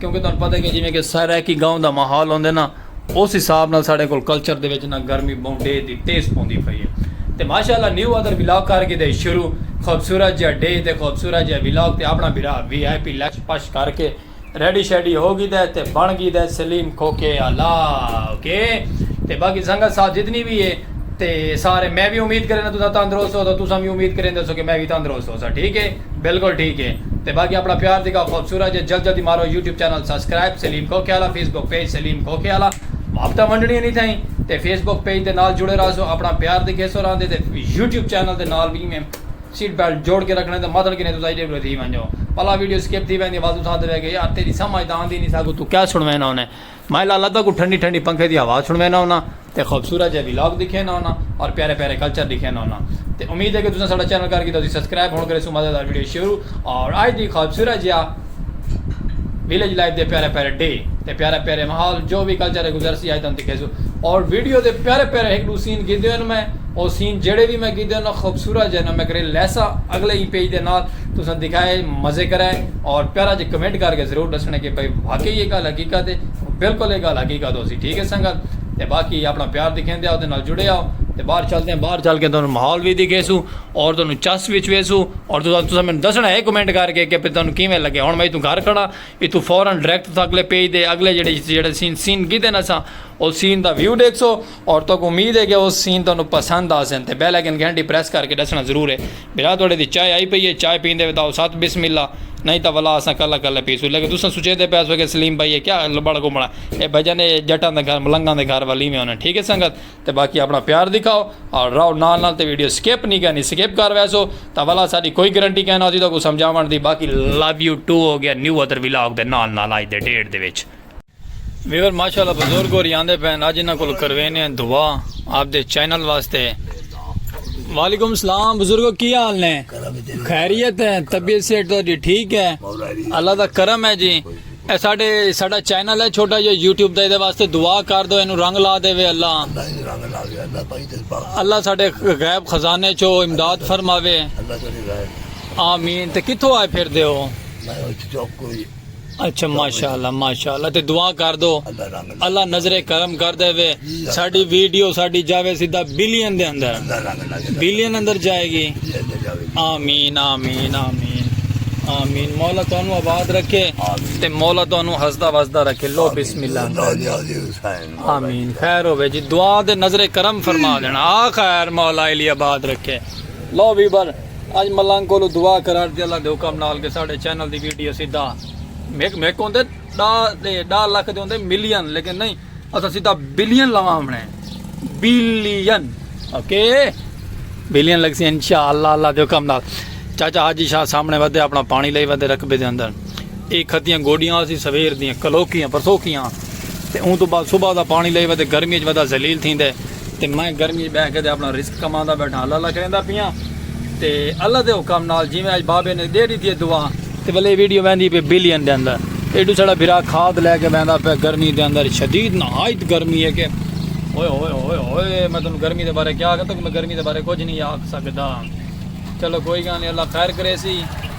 کیونکہ تہاݙوں پتہ ہے کہ جیویں کہ سرائیکی گاؤں دا ماحول ہوندے نا اس حساب نال ساݙے کول کلچر دے وچ نا گرمی ٻہوں ݙے دی تیز پوندی پئی ہے تے ماشاء اللہ نیو ادر ولاگ کر گھدے شروع خوبصورت جیہا ݙے تے خوبصورت جیہا ولاگ تے اپݨا بھرا وی آئی پی لش پش کر کے ریڈی شیڈی ہو گھدا ہے تے بݨ گھدا ہے سلیم کھوکھے آلا اوکے تے باقی سنگت صاحب جتنی وی ہے تے سارے میں وی امید کرینداں تساں تندرست ہو تاں تساں وی امید کریندے ہو سو کہ میں وی تندرست ہو سا ٹھیک ہے بالکل ٹھیک ہے تے باقی اپنا پیار دی کا خوبصورت جے جلد جلدی مارو یوٹیوب چینل سبسکرائب سلیم کھوکھے والا فیس بک پیج سلیم کھوکھے والا وابتہ ونڈنی نہیں تھائیں تے فیس بک پیج دے نال جڑے رہا سو اپنا پیار دی کھیسو رہا دے تے یوٹیوب چینل دے نال وی میں سیٹ بیلٹ جوڑ کے رکھنے تے مطلب کنے تساں ایڈے بڑے تھی ونجو پلا ویڈیو سکپ تھی ویندی واسو ساتھ دے کہ یار تیری سمجھ داندی نہیں ساکو تو کیا سنوینا ہونے میں لالہ تاکوں ٹھنڈی ٹھنڈی پنکھے دی ہوا سنڑوینا ہوناں تے خوبصورت جئے ولاگ ڈکھینا ہوناں اور پیارے پیارے کلچر ڈکھینا ہوناں تے امید ہے کہ تساں ساڈا چینل کر کیتا تسی سبسکرائب ہن کریسو مزیدار ویڈیو شروع اور اج دی خوبصورت جیا ویلیج لائف دے پیارے پیارے ڈے تے پیارے پیارے ماحول جو بھی کلچر ہے گزر سی اج تن دکھیسو اور ویڈیو دے پیارے پیارے ایک دو سین گیدے ہن میں او سین جڑے بھی میں گیدے ہن خوبصورت جئے نا میں کرے لیسا اگلے ہی پیج دے نال تساں دکھائے مزے کرے اور پیارا جی کمنٹ کر کے ضرور ڈسنے کہ بھائی واقعی یہ گل حقیقت ہے بالکل یہ گل حقیقت ہو سی ٹھیک ہے سنگت تے باقی اپنا پیار دکھیں دیا اودے نال جڑے آؤ تے باہر چلتے ہیں باہر چل کے تانوں ماحول بھی دکھے سو اور تانوں چس وچ وے سو اور تساں تساں میں دسنا ہے کمنٹ کر کے کہ تانوں کیویں لگے ہن میں اتوں گھر کھڑا اتوں فورا ڈائریکٹ تساں اگلے پیج دے اگلے جڑے جڑے سین سین گھدے نساں او سین دا ویو ڈیکھ سو اور توک امید ہے کہ او سین تانوں پسند آسن تے بیل آئیکن گھنٹی پریس کر کے ڈسنا ضرور ہے بھرا توڑے دی چائے آئی پئی ہے چائے پیندے ہوئے تاؤ ساتھ بسم اللہ نہیں تا ولا اساں کلا کلا پیسو لیکن تساں سوچے دے پیسو کہ سلیم بھائی ہے کیا لبڑ کو بڑا اے بھجن اے جٹاں دے گھر ملنگاں دے گھر والی میں ہونا ٹھیک ہے سنگت تے باقی اپنا پیار دکھاؤ اور راؤ نال نال تے ویڈیو سکیپ نہیں کرنی سکیپ کر ویسو تا ولا ساری کوئی گرنٹی کہنا ہوتی تو کو سمجھاون دی باقی لو یو ٹو ہو گیا نیو ادر ویلاگ دے نال نال آئی دے ڈیڑھ دے وچ ویور ماشاءاللہ بزرگ اور یاندے پہن آج انہاں کل کروینے ہیں دعا آپ دے چینل واسطے وعلیکم السلام بزرگو کی حال نے خیریت ہے طبیعت سیٹ تو جی ٹھیک ہے اللہ دا کرم ہے جی اے ساڑے ساڑا چینل ہے چھوٹا یہ یوٹیوب دے دے واسطے دعا کر دو انہوں رنگ لا دے وے اللہ اللہ ساڑے غیب خزانے چھو امداد فرماوے آمین تے کتھو آئے پھر دے ہو اچھا ماشاءاللہ ماشاءاللہ تے دعا کر دو اللہ نظر کرم کر دے وے ساڈی ویڈیو ساڈی جاوے سیدھا بلین دے اندر بلین اندر جائے گی آمین آمین آمین آمین مولا تانوں آباد رکھے تے مولا تانوں ہسدا وسدا رکھے لو بسم اللہ آمین خیر ہوے جی دعا دے نظر کرم فرما دینا آ خیر مولا علی آباد رکھے لو بھی بر اج ملنگ کولو دعا کراٹ دی اللہ دے حکم نال کہ ساڈے چینل دی ویڈیو سیدھا میک میک ہوندے ڈا دے ڈا لکھ دے ہوندے ملین لیکن نہیں اسا سیدھا بلین لواں ہمنے بلین اوکے بلین لگ سی انشاءاللہ اللہ دے حکم نال چاچا حاجی شاہ سامنے ودے اپنا پانی لے ودے رقبے دے اندر اے کھتیاں گوڈیاں سی سویر دیاں کلوکیاں پرسوکیاں تے اون تو بعد صبح دا پانی لے ودے گرمی وچ ودا ذلیل تھیندے تے میں گرمی اچ بہہ کے تے اپنا رزق کماندا بیٹھاں اللہ اللہ کریندا پیاں تے اللہ دے حکم نال جیویں اج بابے نے دے ڈیتی ہے دعا تے ولے ویڈیو ویندی پے بلین دے اندر ایڈو سڑا بھرا کھاد لے کے ویندا پے گرمی دے اندر شدید نہایت گرمی ہے کہ اوئے اوئے اوئے اوئے میں تم گرمی دے بارے کیا کہ تک میں گرمی دے بارے کچھ نہیں آکھ سکدا چلو کوئی گل نہیں اللہ خیر کرے سی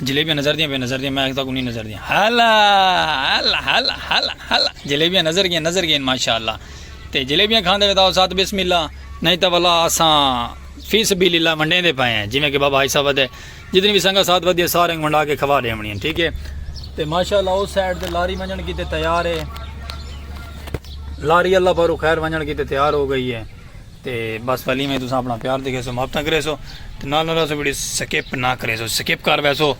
جلیبیاں نظر دیاں پئیں نظر دیاں میں اج تاں کوں نی نظر دیاں ہلا ہلا ہلا ہلا ہلا جلیبیاں نظر گئین نظر گئین ماشاءاللہ تے جلیبیاں کھاندے وے تاں ساتھ بسم اللہ نہیں تاں ولا اساں فی سبیل اللہ ونڈے دے پئے ہیں جویں کہ بابا حصہ ودے جتنی بھی سنگا ساتھ ودی ہے سارے ونڈا کے کھوا دے ونی ٹھیک ہے تے ماشاءاللہ اس سائیڈ تے لاری ونجن کیتے تیار ہے لاری اللہ پر خیر ونجن کیتے تیار ہو گئی ہے تے بس فلیم ہے تساں اپنا پیار دیکھے سو محبتاں کرے سو تے نال نال اسو ویڈیو سکپ نہ کرے سو سکپ کر وے سو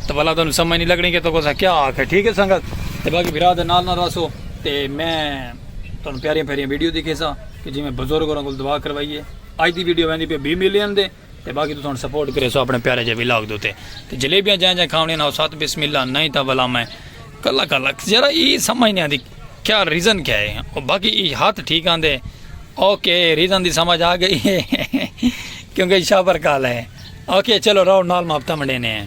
تو بلا تانوں سمجھ نہیں لگنی کہ تو کوسا کیا آکھ ہے ٹھیک ہے سنگت تے باقی بھرا دے نال نال رسو تے میں تانوں پیاریاں پیاریاں ویڈیو دیکھے سا کہ جی میں بزرگ اور انگل دعا کروائیے آج دی ویڈیو ویندی پہ 20 ملین دے تے باقی تساں ہن سپورٹ کریسو اپنے پیارے جے ولاگ دے اتے تے جلیبیاں جیاں جیاں کھاونیاں نہ ساتھ بسم اللہ نہیں تاں بھلا میں کلا کلا ذرا ای سمجھ نہیں آندی کیا ریزن کیا ہے او باقی ای ہاتھ ٹھیک آندے اوکے ریزن دی سمجھ آ گئی ہے کیونکہ شابر کال ہے اوکے چلو رہو نال ماپتا منڈے نے ہیں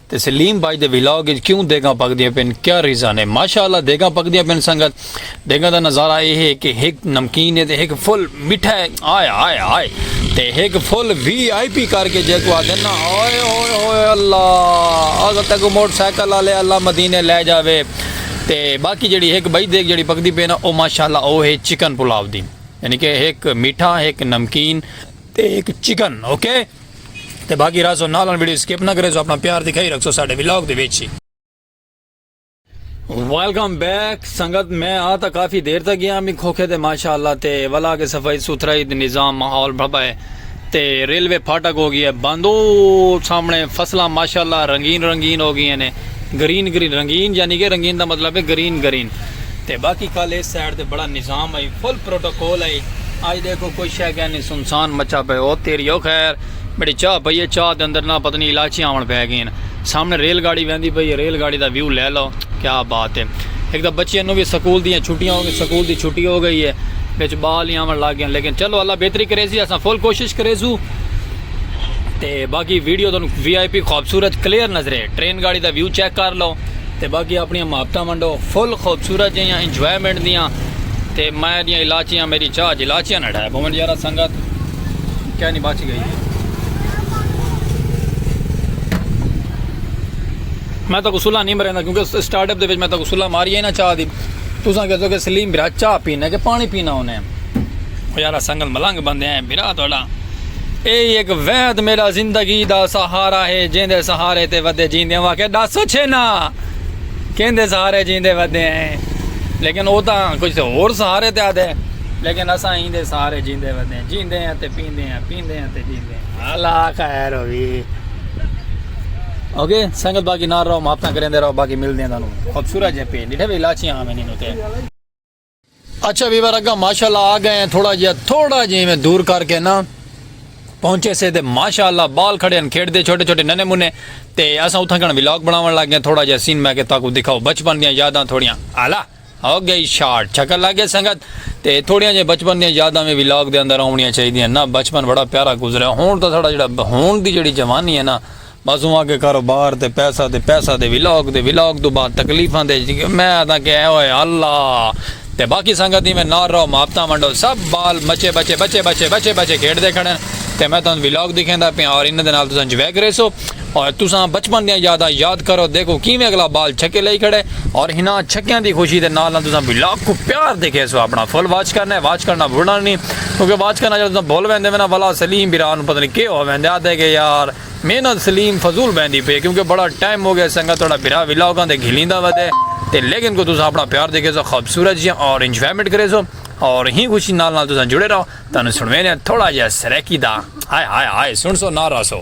تے سلیم بھائی دے ولاگ اچ کیوں دیگاں پکدیاں پن کیا ریزن ہے ماشاء اللہ دیگاں پکدیاں پن سنگت دیگاں دا نظارہ اے ہے کہ ہک نمکین ہے تے ہک فل مٹھا ہے آئے آئے آئے تے ہک فل وی آئی پی کر کے جیکو آدھے نا آئے ہوئے ہوئے اللہ اگر تک موٹر سائیکل والے اللہ مدینے لے جاوے تے باقی جڑی ہک بئی دیگ جڑی پکدی پے نا او ماشاء اللہ او ہے چکن پلاو دی یعنی کہ ہک مٹھا ہک نمکین تے ہک چکن اوکے okay? تے باقی راسو نالن ویڈیو سکپ نہ کرے سو اپنا پیار دکھائی رکھ سو ساڈے ولاگ دے وچ ویلکم بیک سنگت میں آ تا کافی دیر تک گیا میں کھوکھے تے ماشاءاللہ تے ولا کے صفائی ستھرائی تے نظام ماحول بھبا ہے تے ریلوے پھاٹک ہو گیا ہے بندو سامنے فصلاں ماشاءاللہ رنگین رنگین ہو گئی ہیں گرین گرین رنگین یعنی کہ رنگین دا مطلب ہے گرین گرین تے باقی کل ایس سائیڈ تے بڑا نظام ہئی فل پروٹوکول ہئی اج ڈیکھو کوئی شے گے نی سنسان مچا پئے او تیری او خیر بڑی چاہ پئی ہے چاہ دے اندر نہ پتہ نی علاچیاں آون پے گئین سامنے ریل گاڑی ویندی پئی ہے ریل گاڑی دا ویو لے لو کیا بات ہے ہک تاں بچیاں نو وی سکول دیاں چھٹیاں ہو گئین سکول دی چھٹی ہو گئی ہے وچ بال ہی آون لگ گئین لیکن چلو اللہ بہتری کریسی اساں فل کوشش کریسو۔ تے باقی ویڈیو تانوں وی آئی پی خوبصورت کلیئر نظرے ٹرین گاڑی دا ویو چیک کر لو تے باقی اپنی محبتہ منڈو فل خوبصورت جہاں انجوائمنٹ دیاں تے میں دیاں علاچیاں میری چاہ جلاچیاں نہ ڈھائے بھومن یارہ سنگت کیا نہیں بچ گئی ہے میں تو غسلہ نہیں مرے کیونکہ سٹارٹ اپ دے وچ میں تو غسلہ ماری ہے نا چاہ دی تساں کہہ دو کہ سلیم بھرا چاہ پینا کہ پانی پینا ہونے یارہ سنگت ملنگ بندے ہیں بھرا تھوڑا اے ای ہک وحد میڈا زندگی دا سہارا ہے جیندے سہارے تے ودے جیندے ہاں کہ ڈس اچھے نا کیندے سہارے جیندے ودے ہیں لیکن او تاں کچھ ہور سہارے تے آدھے لیکن اساں ہی دے سارے جیندے ودے ہیں جیندے ہیں تے پیندے ہیں پیندے ہیں تے جیندے ہیں اللہ خیر ہوئی اوکے سنگت باقی نار رہو ماپتاں کریں دے رہو باقی مل دیں دانو خوبصورت جے پی ڈیٹھے بھی لاچیاں آمین انہوں تے اچھا ویور اگا ماشاءاللہ آ گئے ہیں تھوڑا جیا تھوڑا جی میں دور کر کے نا پہنچے سے دے ماشاءاللہ بال کھڑے ہیں کھیڑ دے چھوٹے چھوٹے ننے منے تے اسا اتھا کنا ویلاگ بناون لگ گئے تھوڑا جیا سین میں کہ تاکو دکھاؤ بچپن دیاں یاداں تھوڑیاں اعلی ہو گئی شارٹ چھکر لگ گئے سنگت تے تھوڑیاں جے بچپن دیاں یاداں میں ویلاگ دے اندر آونیاں چاہیے نا بچپن بڑا پیارا گزریا ہون تا تھوڑا جڑا ہون دی جڑی جوانی ہے نا بس اگے کاروبار تے پیسہ تے پیسہ تے ولاگ تے ولاگ توں بعد تکلیفاں تے میں آدھاں کہ اے ہوئے اللہ تے باقی سنگت ایویں نال رہو محبتاں ونڈو سب بال مچے بچے بچے بچے بچے بچے کھیڈدے کھڑن تے میں تہاں ولاگ دکھیندا پیاں اور انہاں دے نال تساں انجوائے کریسو اور تساں بچپن دیاں یاداں یاد کرو دیکھو کیویں اگلا بال چھکے لئی کھڑے اور ہناں چھکیاں دی خوشی دے نال نال تساں ولاگ کو پیار دکھیسو اپنا فل واچ کرنا واچ کرنا بھولنا نہیں کیونکہ واچ کرنا جڑا تساں بھول ویندے میں نا ولا سلیم برا نو پتہ نہیں کے ہو ویندے آدھے کہ یار محنت سلیم فضول بیندی پے کیونکہ بڑا ٹائم ہو گیا اس سنگا توڑا بھرا ولا ہوگا تے گھلیندا ودے تے لیکن کو تسا اپنا پیار دیکھے سو خوبصورت جی اورنج فیمٹ کرے سو اور ہی خوشی نال نال تسا جڑے رہو تانو سنوینے ہیں تھوڑا جہا سریکی دا ہائے ہائے ہائے سن سو نہ رہا سو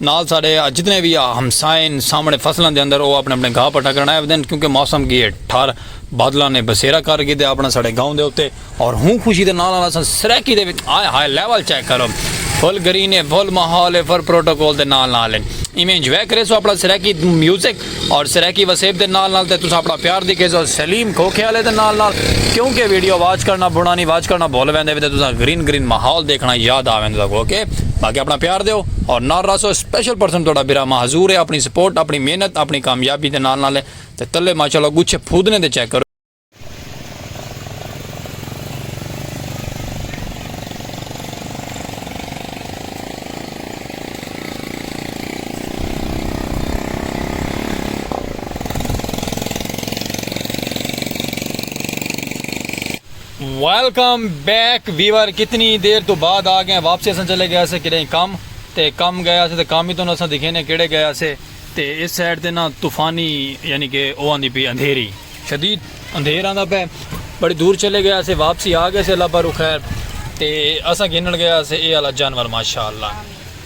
نال ساڈے جتنے وی ہمسائے ہن سامنڑے فصلاں دے اندر او اپنڑے اپنڑے گھا پٹا کرنڑ آئے ودن کیونکہ موسم گی اے ٹھار بادلاں نے بسیرا کر گھدے اپنڑا ساڈے گاؤں دے اتے اور ہوں خوشی دے نال نال اساں سرائیکی دے وچ ہائے ہائے لیول چیک کرو فل گرین اے فل ماحول اے فل پروٹوکول دے نال نال اے ایویں انجوائے کریسو اپنڑا سرائیکی میوزک اور سرائیکی وسیب دے نال نال تے تسا اپنا پیار دی کیس اور سلیم کھوکھے آلے دے نال نال کیونکہ ویڈیو واچ کرنا بھونا نہیں واچ کرنا بھول ویندے ویندے تسا گرین گرین ماحول دیکھنا یاد آ ویندے تسا اوکے باقی اپنا پیار دیو اور نال راسو اسپیشل پرسن توڑا برا ماں حضور ہے اپنی سپورٹ اپنی محنت اپنی کامیابی دے نال نال تے تلے ماشاءاللہ گچھے پھودنے دے چیک کرو ویلکم بیک ویور کتنی دیر تو بعد آ گئے واپسی اصل چلے گیا سے کہیں کم تے کم گیا سے تے کم ہی تو اصل دکھے نے کیڑے گیا سے تے اس سائڈ تے نا طوفانی یعنی کہ اوہ آندی پی اندھیری شدید اندھیر آندا پے بڑی دور چلے گیا سے واپسی آ گئے سے اللہ پر خیر تے اسا گھنن گیا سے اے والا جانور ماشاءاللہ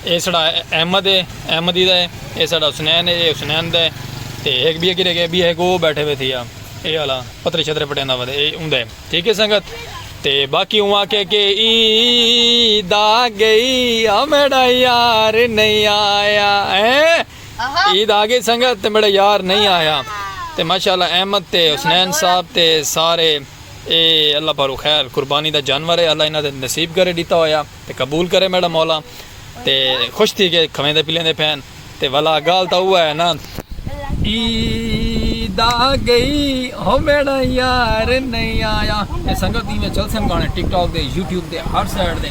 اے سڑا احمد ہے احمدی دا ہے اے سڑا حسنین ہے اے حسنین دا ہے تے ایک بھی گرے گئے بھی ہے کو بیٹھے ہوئے تھیا اے والا پترے چھترے پٹیندا ودے اے اوندا ہے ٹھیک ہے سنگت تے باقی ہوا کہ کہ عید آ گئی آ میرا یار نہیں آیا اے عید آگئی سنگت تے میڈا یار نئیں آیا تے ماشاءاللہ احمد تے حسنین صاحب تے سارے اے اللہ پاروں خیر قربانی دا جانور اے اللہ انہاں دے نصیب کرے ڈیتا ہویا تے قبول کرے میڈا مولا تے خوش تھی کے کھویندے پلیندے پھین تے ولا گال تاں اوہ اے نا عید آگئی ہو میڈا یار نئیں آیا تے سنگت ایویں چلسن گانے ٹک ٹاک دے یوٹیوب دے ہر سائیڈ دے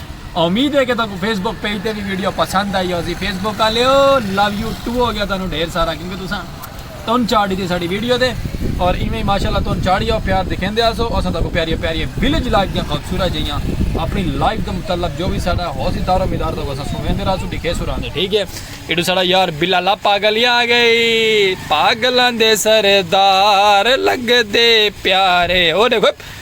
امید ہے کہ تاکو فیس بک پیج تے بھی ویڈیو پسند آئی ہوسی فیس بک آلے ہو لو یو ٹو ہو گیا تانوں ڈھیر سارا کیونکہ تساں تن چاڑ دیتی ساڑی ویڈیو دے اور ایویں ماشاءاللہ تن چاڑی ہو پیار دکھیں دے آسو اساں تاکو پیاری پیاری ویلیج لائف دیاں خوبصورت جہیاں اپنی لائف دے متعلق جو بھی ساڑا ہوسی دارو مدار تاکو اساں سویں دے راسو دکھے سو راندے ٹھیک ہے ایڈو ساڑا یار بلالا پاگلی آ گئی پاگلان دے سردار لگ دے پیارے او دیکھو